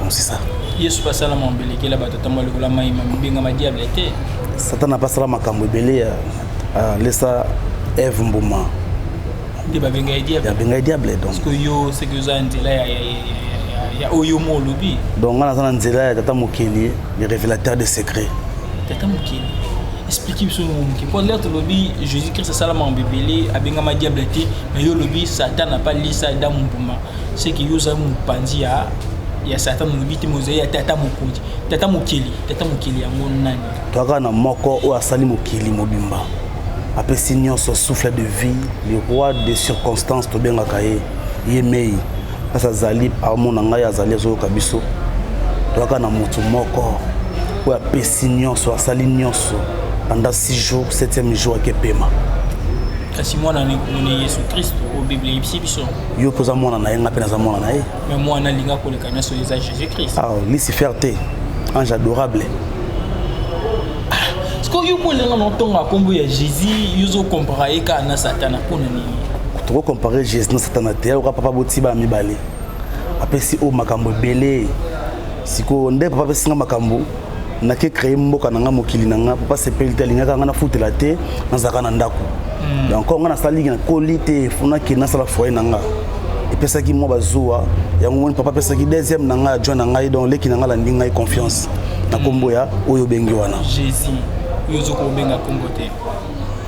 Donc c'est ça. Yesu basala mwa mbelekela bato atambola lokola mai ma mobengama diable te. Satana basala makambo ebele ya euh, lesa Eve mbuma. Nde babenga ye diable. Babenga ye diable donc. Parce que yo c'est que oza nzela ya ya oyo mo olobi. Donc nga naza na nzela ya tata mokeli le révélateur des secrets. Tata mokeli expliquer biso moke mpo lere tolobi jésus christ asalama mbebele abengama diable te mais yo olobi satan apa lisa adamu mbuma ce que yo ozali mopanzi ya ya satan olobi te mozali ya tata mokonzi tata mokeli tata mokeli yango nani toyaka na moko oyo asali mokili mobimba apesi nyonso souffle de vie le roi de circonstance tobengaka ye ye mei kasi azali amona ngai azali azoyoka biso toyaka na moto moko oyo apesi nyonso asali nyonso pendant 6 jours 7e jour akepema kasi mwana na yesu kristo oyo biblia eyebisi biso yo mpe oza mwana na ye ngai mpe naza mwana na ye me mwana alinga koleka nyonso eza jésus christ ah, lucifer te ange adorable sikoyo yo mpo elenga na otonga nkombo ya jésus yo ozokompara ye kaka na satana mpo na nini tokokompare jésus na satana te yakoka papa botiba mibale apesi oyo makambo ebele sikoyo nde papa apesinga makambo nake créer mboka na nga mokili na nga papa sepeli te alingaka nga nafutela te nazalaka na ndako hmm. donc nga nasalaki nakoli te fonaki nasala foyer na nga epesaki mwa bazuwa yango moni papa apesaki deuxième na ngai adjoint na ngai donc leki na ngai alandi ngai confiance na nkombo ya oyo obengi wana jésus oyo ozokobenga nkombo te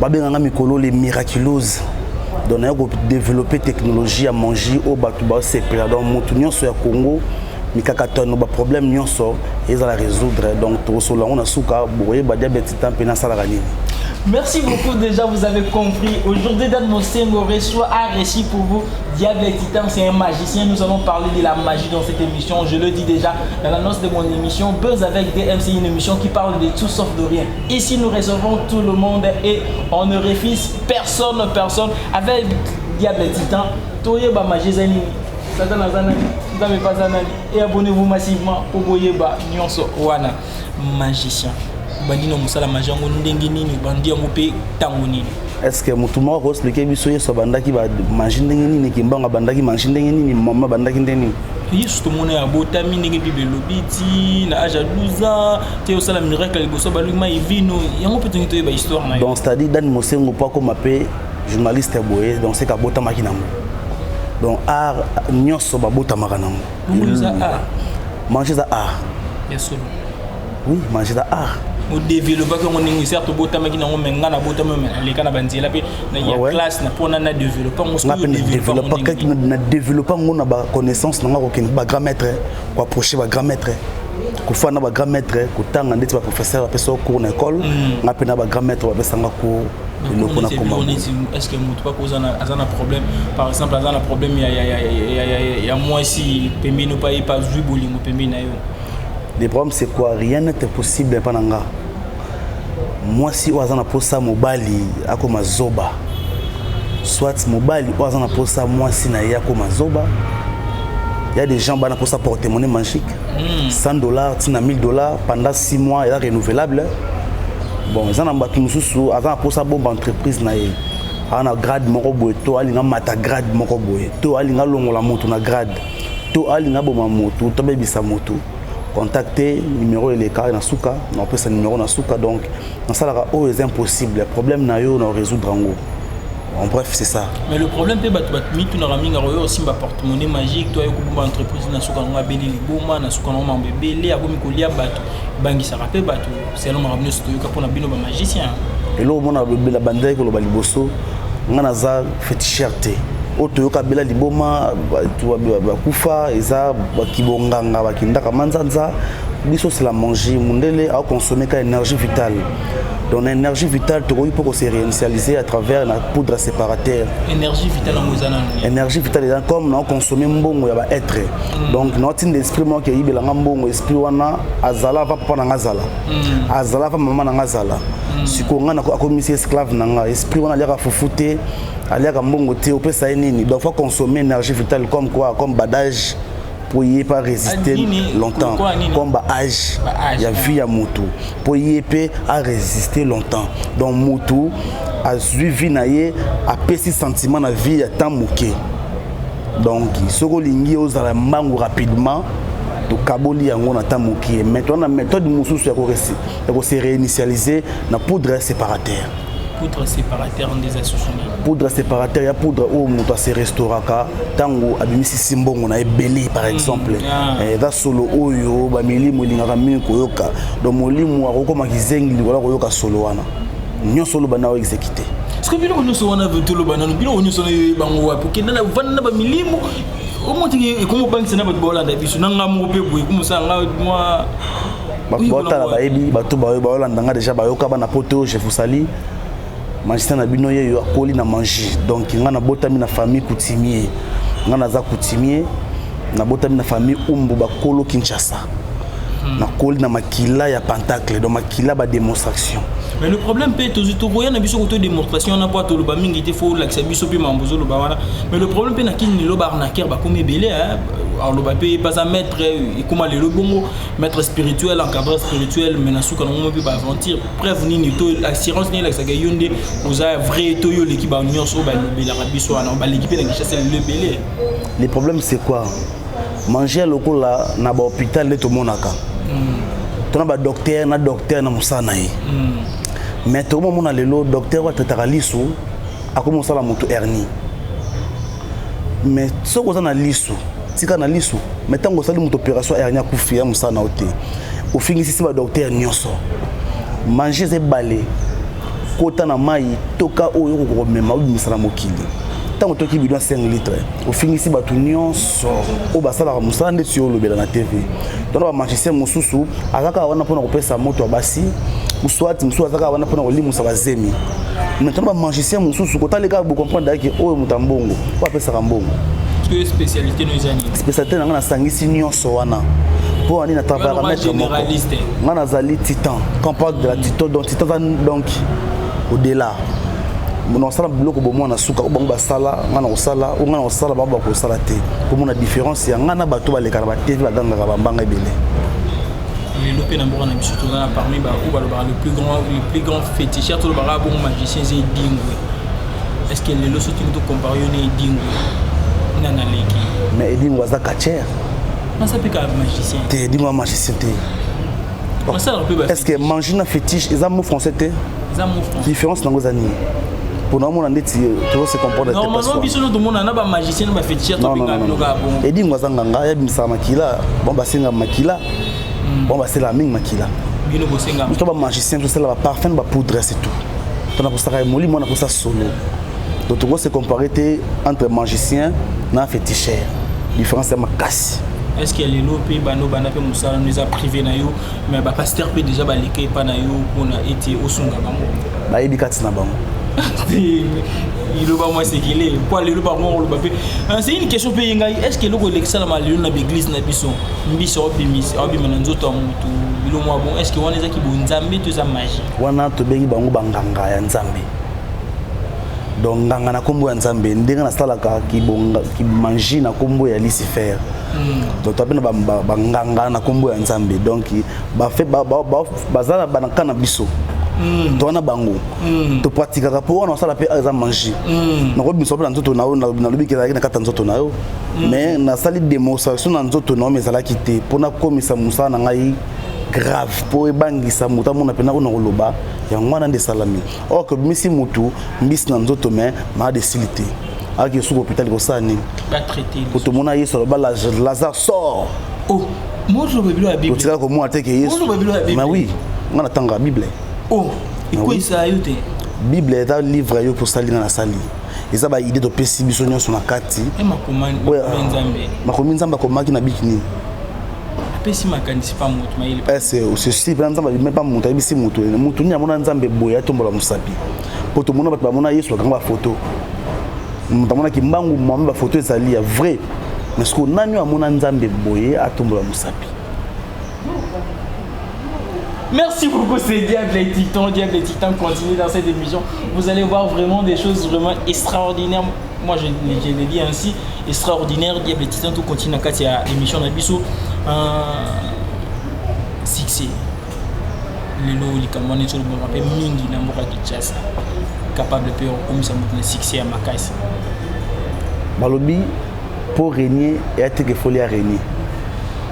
babenga nga mikolo le miraculose donc naye kodeveloppe technologie ya mangi oyo bato basepela donc moto nyonso ya congo mikakatano baproblème nyonso ezala résoudre donc tokosolola yango na suka bokoyeba diabete ta mpe nasalaka nini Merci beaucoup déjà, vous avez compris. Aujourd'hui, Dan Mosengo reçoit un récit pour vous. Diable et Titan, c'est un magicien. Nous allons parler de la magie dans cette émission. Je le dis déjà dans l'annonce de mon émission. Buzz avec DMC, une émission qui parle de tout sauf de rien. Ici nous recevons tout le monde et on ne refuse personne personne avec diable titan toyeba magie eza nini satana aza nani nzambe mpe aza nani et abonnez-vous massivement mpo boyeba nyonso wana magicien obandi na mosala magie yango ndenge nini obandi yango mpe ntango nini est ce que motu moko akoexplike biso yesu abandaki bamagie ndenge nini kimbango abandaki magie ndenge nini mama abandaki ndenge nini yesu tomona ya botami ndenge bible elobi ti na age ya 12 ans te osala miracle liboso balongi mai vino yango mpe tongi toyeba histoire na donc c'est-à-dire dani mosengo mpo akoma mpe journaliste ya boye donc seka abotamaki nango donc art nyonso babotamaka nango mange eza art oui manger eza art odeveloppaki yango ndenge certes obotamaki nango me ngai nabotami aleka na banzela mpe ya classe na mpona na developpe na developpe yango na baconnaissance na ngai kokende bagrand maître koapproche bagrand maître kofanda na bagrand maître kotanga ndeti baprofesseur bapesa yo cours na école mm. ngai mpe na bagrand maître bapesanga cours eloko na koma est ce que moto pako aza na problème par exemple aza na problème ya mwasi pembeni opa ye pa azwi bolingo pembeni na yo le problème c'est quoi rien n'est impossible epa na nga mwasi oyo aza na mposa mobali akoma zoba soit mobali oyo aza na mposa mwasi na ye akoma zoba ya des gens bana mposa portemone magique 100 hmm. dollars ntina 1000 dollars pendant 6 mois eza renouvelable bon eza na bato mosusu aza na mposa bomba entreprise na ye aza na grade moko boye to alinga mata grade moko boye to alinga longola moto na grade to alingi aboma motu to abebisa motu contacte numéro eleka na suka na opesa numéro na suka donc nasalaka oyo eza impossible problème na yo na résoudre yango en bref c'est ça mais le problème mpe bato bamitunaka mingi akoyo osimba porte-monnaie magique to aye kobomba entreprise na suka yango abeli liboma na suka yango mambo ebele akomi kolia bato ebangisaka mpe bato selon makambo nyonso toyoka mpo na bino ba magicien eloko mona bela bandaki koloba liboso ngai naza fetisher te oyo toyoka bela liboma bakufa eza bakibonganga bakindaka manzanza biso c'est la manger mundele akoconsomme ka énergie vitale donc na énergie vitale tokoki mpo kose réinitialiser à travers na poudre séparateur énergie vitale yango eza nani énergie vitale eza comme na oconsomme mbongo ya baêtre mm. donc naotinda esprit moko eyibelanga mbongo Puis wana azala va papa na nga zala. Mm. Azala va maman na nga zala. Mm. Siko nga na ko akomisi esclave na nga. Esprit wana aliaka fufu te, aliaka mbongo te, opesa ye nini? Donc faut consommer énergie vitale comme quoi, comme badage mpo ye mpe aresiste longtemps comme baage ya vie ya motu mpo ye mpe aresiste longtemps donc motu azwi vie na ye apesi sentiment na vie ya temps moke donc soki olingi ozala mbangu rapidement tokaboli yango na ntango mokie mai toza na méthode mosusu ya kose réinitialiser na poudre séparateur poudre séparateur nde eza susu nini poudre séparateur ya poudre oyo moto ase restauraka ntango abimisisi mbongo na ebele par hmm, exemple ah. eh, eza solo oyo bamilimo elingaka mingi koyoka donc molimo akokoma kizengi likola koyoka solo wana nyonso oloba na oexekite soki biloko nyonso wana toloba nano biloko nyonso nayo bango wapi okenda na vanda na bamilimo omotiki ekomi obangisa na bato baolanda biso na ngai moko mpe boye komosala ngai mwa bato baotala bayebi bato bayo baolanda ngai deja bayoka bana poto je vous sali magistrat na bino yeyo akoli na mangi donc ngai nabotami na famille coutumier ngai naza coutumier nabotami na famille umbu bakolo kinshasa hmm. nakoli na makila ya pentacle donc makila bademonstration mais le problème mpe tozwi tokoya na biso koto démonstration wana mpo toloba mingi te fo olakisa biso mpe mambo ozoloba wana mais le problème mpe na kini lelo baarnaquer bakomi ebele aloba mpe baza maître ekoma lelo bongo maître spirituel encadreur spirituel mais na suka na ngomo mpe baaventure preuve nini to assurance nini elakisaka yo nde oza vrai to yo oleki banionso oyo balobelaka biso wana baleki mpe na kinshasa lelo ebele le problème c'est quoi manger lokola na ba hôpital nde tomonaka mm. tona ba docteur na docteur na mosala na ye mm. mais tokomamona lelo docteur oyo atataka liso akomi mosala moto hernie mais soki oza na liso tika na liso mais ntango osali moto opération hernie akufi ya mosala na yo te ofingisisi badoktere nyonso mange eza ebale kota na mai toka oyo okoki komema obimisa na mokili ntango toki bidon 5 litre ofingisi bato nyonso oyo basalaka mosala ndeti yo olobela na tv tona bamagicien mosusu aza kaka wana mpona kopesa moto ya basi uswati mosusu aza kaka wana mpona kolimusa bazemi mais tona bamagicien mosusu kotali kaka bocomprendre daki oyo moto ya mbongo oyo apesaka mbongo spécialité na ngai nasangisi nyonso wana mpo ani na travaillaka maître moko ngai nazali titan campagne de la titan dont tata donc au delà mona kosala biloko bomwa na suka oyo bango basala ngai na kosala oyo ngai na kosala bango bakosala te komona différence ya ngai na bato baleka na batv bagangaka bambanga ebele lelo mpe na mboka na biso toza na parmi baoyo balobaka le plus grand le plus grand féticheur tolobaka bongo magicien eza edingwe est ce que lelo so tini tocompare yo na edingwe nani aleki mais edingwe aza catcher aza mpe kaka magicien te edingwe ya magicien te est ce que manger na fétiche eza mot français te différence nango eza nini mpona omona ndeti tozo se comprendre normalement biso no tomona na ba magicien na ba fétiche tobinga bino kaka bongo edingo aza nganga yabimisaka makila bon basenga makila hmm. bon baselaka mingi makila bino bosenga biso ba magicien tosala ba parfum ba poudre c'est tout mpona kosaka molimo wana kosa solo donc toko se comparer te entre magicien na féticheur différence ya makasi est ce que ya lelo mpe banda obanda mpe mosala no eza privé na yo mais bapaster mpe déjà baleka epa na yo mpona ete osunga bango bayebi kati na bango liloba mwa sekele mpo lelo bango koloba mpe euh, c'est une question mpe ye ngai est ce que eloko elekisalama lelo na baeglise na biso mbisi aobima na nzoto ya motu bilo mwa bon est ce que wana ezaki bonzambe to eza magie wana tobengi bango banganga ya nzambe donc nganga na kombo ya nzambe ndenge nasalaka kimanji na kombo ya lucifer hmm. donc toa bena banganga na kombo ya nzambe donc baza na banaka na biso hmm. toa na bango hmm. topratikaka mpo wana osala mpe eza manji nakobimisa mpe na nzoto na yo nalobi ke ezalaki na kati ya nzoto na yo mais nasali demonstration na nzoto na yo mais ezalaki te mpo nakomisa mosala na ngai grave mpo ebangisa moto amona mpe nakona koloba yango wana nde esalami or que bimisi mutu mbisi na nzoto me malade esili te ayaki esuku hôpital kosala nini kutu omona yesu aloba lazare sort oh, otikala komona te ke yesu ma oui nga natangaka bible oh, bible eza livre yo mpo osali nga nasali eza baide topesi biso nyonso na kati eh, makomi nzambe akomaki na biki nini apesi makanisi pa moto mayele ese osesi mpe nzambe abimi pa moto ayebisi moto moto nini amona nzambe boye atombola mosapi mpo tomona bato bamona yesu bakanga bafoto moto amonaki mbangu mwami bafoto ezali ya vrai mais sikoyo nani oyo amona nzambe boye atombola mosapi Merci beaucoup, c'est Diable et Titan. Diable et Titan continue dans cette émission. Vous allez voir vraiment des choses vraiment extraordinaires. Moi, je, je le dis ainsi, extraordinaire, Diable Titan, tout continue dans la émission de Bissou. Euh, succès. lelo likambo wana ezolobama mpe mingi na mboka kinshasa capable mpe okomisa moto na succès ya makasi balobi mpo renier eyateke foli ya renier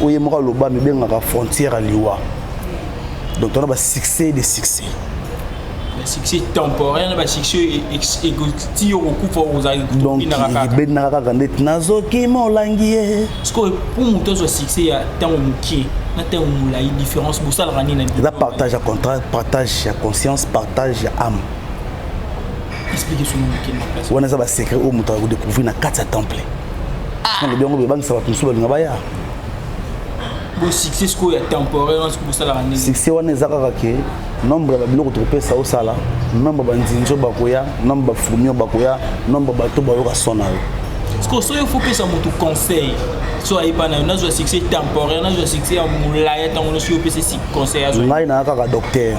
oyo ye moko aloba amibengaka frontière ya liwa donc tona basuccès de succès basuccès temporaire na basuccès ti okokufa ozalibendaka kaka ndeti nazoki molangi ye sikoyo mpo moto azwa succès ya ntango mokie na ntango molai différence bosalaka nini eza partage ya contrat partage ya conscience partage ya ame wana eza basecret oyo moto akodecouvrir na kati ya temple nalobi yango bebangisa bato mosusu balinga baya succès wana eza kaka ke nombre ya babiloko tokopesa osala nombre banzinzi oyo bakoya nombre bafurmi oyo bakoya nombre bato bayoka son na yo sikoyo soki ofopesa moto conseil so ayepa nayo nazwa succès temporaire nazwa succès ya molaya ntango nyonso yo opesesi conseil azwa ngai naa kaka docteur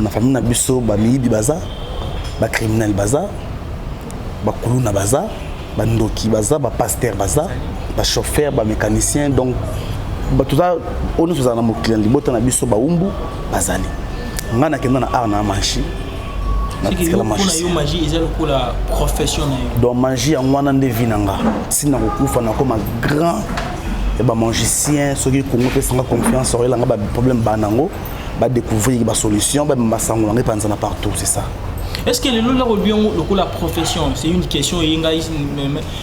na famille na biso ba miyibi baza ba criminel baza ba kuluna baza ba ndoki baza ba pasteur baza ba chauffeur ba mécanicien donc bato za oyo nyonso ozala na mokili na libota na biso baumbu bazali ngai nakenda na art na manchi natikala donc mangi yango wana nde vi na nga ntina kokufa nakoma grand ya bamangicien soki kongo mpesanga confiance oyelanga baproblème baa nango ba découvrir ba solution ba mema sango na ngai panza na partout c'est ça est ce que lelo lako lobi yango lokola profession c'est une question eye ngai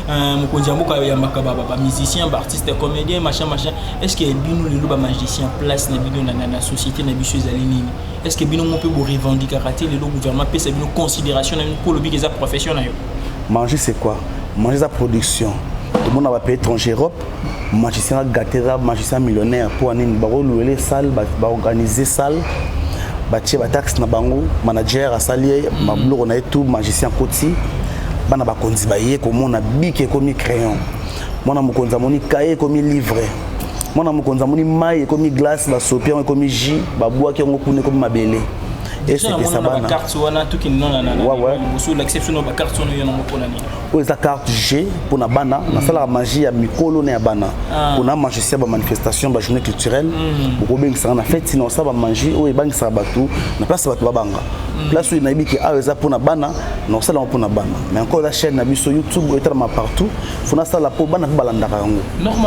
euh, mokonzi ya mboka oyambaka bamusicien baartiste comédien machin machin est ce que bino lelo bamagicien place na bino na société na biso ezali nini est ce que bino mo mpe borevendikaka te lelo gouvernement apesa bino considération na bino mpo olobiki eza profession na yo manger c'est quoi manger eza production tomona bapays étranger europe magicien agate eza magicien millionnaire mpo nini bakoluele salle baorganize salle batie bataxe na bango manager asali ye mabiloko na ye tout magicien akoti bana bakonzi baye komona bike ekomi crayon mwana mokonzi amoni kaye ekomi livre mwana mokonzi amoni mai ekomi glace basopi yango ekomi jus babwaki yango kuna ekomi mabele esepesa bana oyo eza carte g mpo na bana mm. nasalaka magie ya mikolo na ya bana ah. mpona magicien ba manifestation ba journée culturelle mm. bokobengisaka na feti na osala bamagie oyo ebangisaka bato na place bato babanga mm. place oyo nayebi ke awa eza mpona bana na osala yango mpona bana mais encore eza chaîne na biso youtube oyo etalama partout fo nasala mpo bana mpe balandaka yango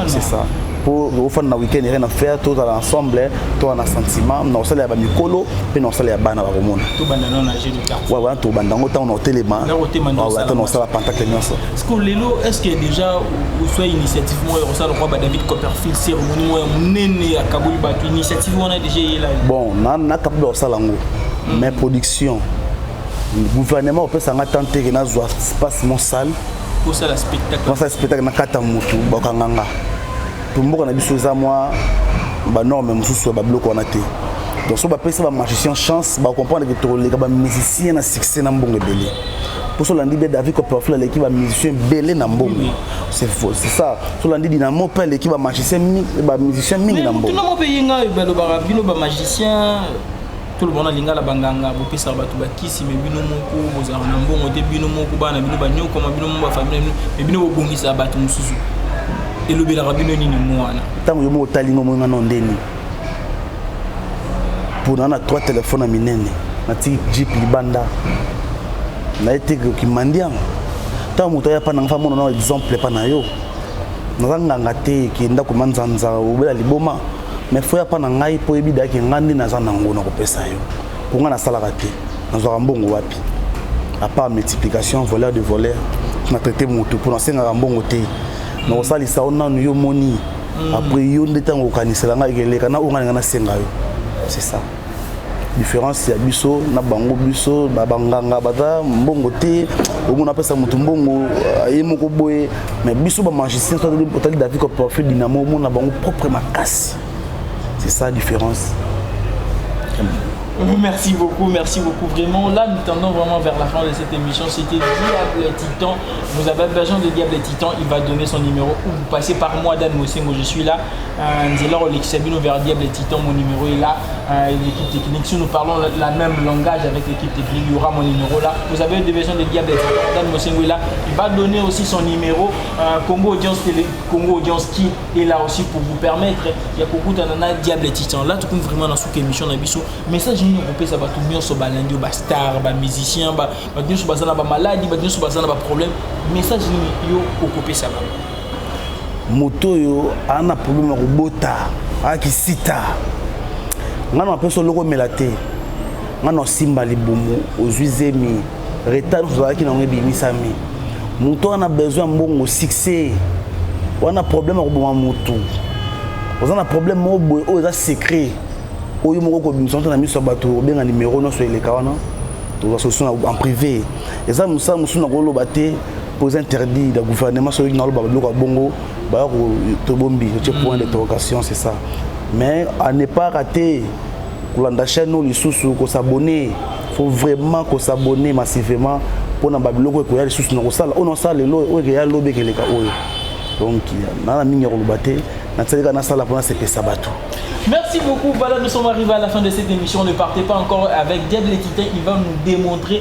c'est ça mpo tokofanda na weekend rien na faire tozala ensemble toa na sentiment na kosala ya bamikolo mpe na kosala ya bana bakomona wana tobanda yango ntango na kotelema ata na kosala pantakle nyonso siko lelo est ce que déjà oswa initiative moko ya kosala lokwa badavid copperfield cérémonie moko ya monene ya kaboli bato initiative wana déjà eyela bon nakapable ya kosala yango mais production gouvernement opesa nga temps teke nazwa espace mon salle kosala spectacle kosala spectacle nakata mutu bakanga nga to mboka na biso eza mwa ba norme mosusu ya ba biloko wana te donc so bapesa ba magicien chance bacomprendre ke toleka ba musicien na succès na mbongo ebele mpo so olandi be david copperfield aleki ba musicien ebele na mbongo c'est faux c'est ça so olandi dinamo mpe aleki ba magicien ba musicien mingi na mbongo mpe yenga balobaka bino ba magicien toloba na lingala banganga bopesaka bato bakisi me bino moko bozalaka na mbongo te bino moko bana bino banyokoma bino moko bafamile bino me bino bobongisaka bato mosusu elobelaka bino nini mwana ntango yo moko otali ngo moninga no ndeni mpona na trois telefone ya minene natiki jeep libanda naye te kimandianga ntango moto aya mpa nanga fa mona na exemple mpa na yo naza nganga te ke ndako manzanza obela liboma mais faut ya pa na ngai po yebi daki ngai nde naza nango na kopesa yo po ngai nasalaka te nazwaka mbongo wapi à part multiplication voleur de voleur na traité motu po nasengaka mbongo te na kosalisa yo nanu yo moni mm. après yo nde ntango okanisela ngai keleka na ongalinga nasenga yo c'est ça différence ya biso na bango biso na banganga baza mbongo te omona apesa motu mbongo euh, ye moko boye mais biso bamagicien otali david coprofe dynamo omona bango propre makasi c'est ça différence Merci beaucoup, merci beaucoup. Vraiment, là, nous tendons vraiment vers la fin de cette émission. C'était Diable Titan. Vous avez besoin de Diable Titan, il va donner son numéro ou vous passez par moi, Dan Mosengo, je suis là. Euh, nzela kolekisa bino vers diable titan mon numéro est là euh, l'équipe technique si nous parlons la, la même langage avec l'équipe technique il y aura mon numéro là vous avez des besoins de diable titan Dan Mosengo est là il va donner aussi son numéro euh, Congo audience télé Congo audience qui est là aussi pour vous permettre ya kokuta nana diable titan là tokomi vraiment na suka émission na biso message nini okopesa bato nyonso balandi ba star ba musicien bato nyonso baza na bamaladi bato nyonso baza na baproblème message nini yo okopesa bango moto oyo aa na problème ya kobota aa kisita ngai na apesa oloko omela te ngai na osimba libumu ozwi zemi retard nyonso ozalaki nango ebimisami moto wana besoin ya mbongo succès wana problème ya koboma motu oza na problème moko boye oyo eza secret oyo moko kobimisa nto na miso ya bato obenga nimero nyonso eleka wana tozwa solution en privé eza mosala mosusu nakoloba te pose interdit na gouvernement soki naloba biloko ya bongo baya tobombi ce point mm. d'interrogation c'est ça mais à ne pas rater kolanda chaîne oyo lisusu kosabonne faut vraiment kosabonne massivement mpona babiloko ekoya lisusu na kosala oyo nasala lelo oyo ekeya lobi ekeleka oyo donc naa na mingi ya koloba te nasalika nasala mpona sepesa bato Merci beaucoup. Voilà, nous sommes arrivés à la fin de cette émission. Ne partez pas encore avec Diable Titan. Il va nous démontrer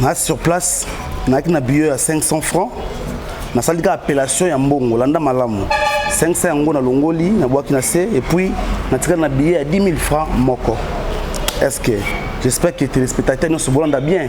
na sur place nayaki na billet ya 500 francs nasali kaka appellation ya mbongo landa malamu 500 yango nalongoli nabwaki na se epuis natikali na billet ya 10 000 francs moko est ce que j'espère que téléspectateur nyonso bolanda bien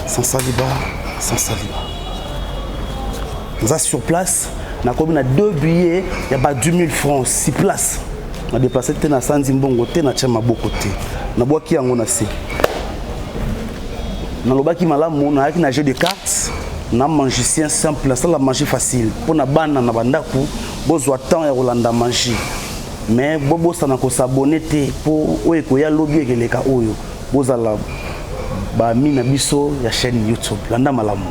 sans saliba sans saliba naza sur place nakomi na deux billets ya ba 10 000 francs si place na déplace te na sanzi mbongo te na tya maboko te nabwaki yango na se nalobaki malamu nayaki na jeu de cartes na magicien simple nasala magie facile mpo na bana na bandako bozwa temps ya kolanda magie mais bobosana kosabone te mpo oyo ekoya lobi ekeleka oyo Bozala ba amis na biso ya chaîne YouTube. Landa malamu.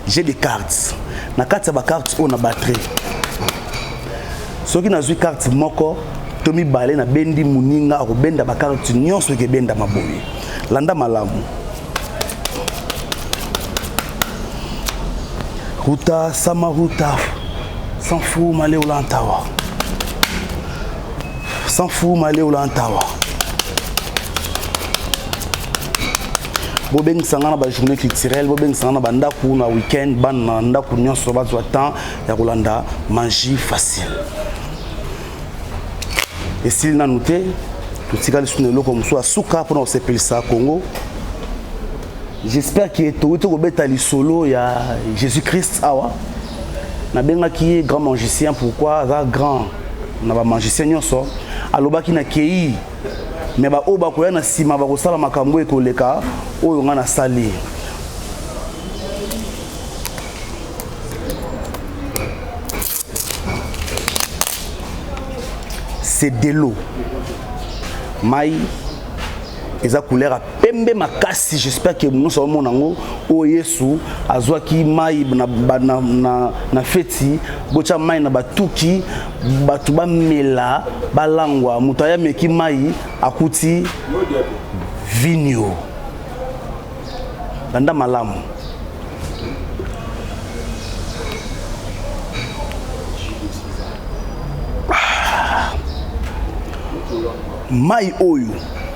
J'ai des cartes. Na kati ya ba cartes oyo na batterie. Soki nazwi carte moko to mibale na bendi muninga akobenda ba cartes nyonso ekebenda maboye. Landa malamu. Ruta Samaruta Sanfu Maleolantawa. sans fou maleo la ntawa bobengisa nga na bajournée culturelle bobengisa nga na bandako na week-end bana na ndako nyonso bazwa temps ya kolanda magie facile esili nanu te totikali susu na eloko mosusu ya suka mpona kosepelisa congo j'espère ke tokoki tokobeta lisolo ya jésus christ awa nabengaki ye grand magicien pourquoi aza grand na bamagicien nyonso alobaki na kei me baoyo bakoya na nsima bakosala makambo oyo ekoleka oyo ngai nasali c'est de l'eau mai eza couleur pembe makasi j'espère que nyonso amona yango oyo yesu azwaki mai na, na, na, na feti botya mai na batuki bato bamela balangwa moto aye ameki mai akuti vinio landa malamu ah. mai oyo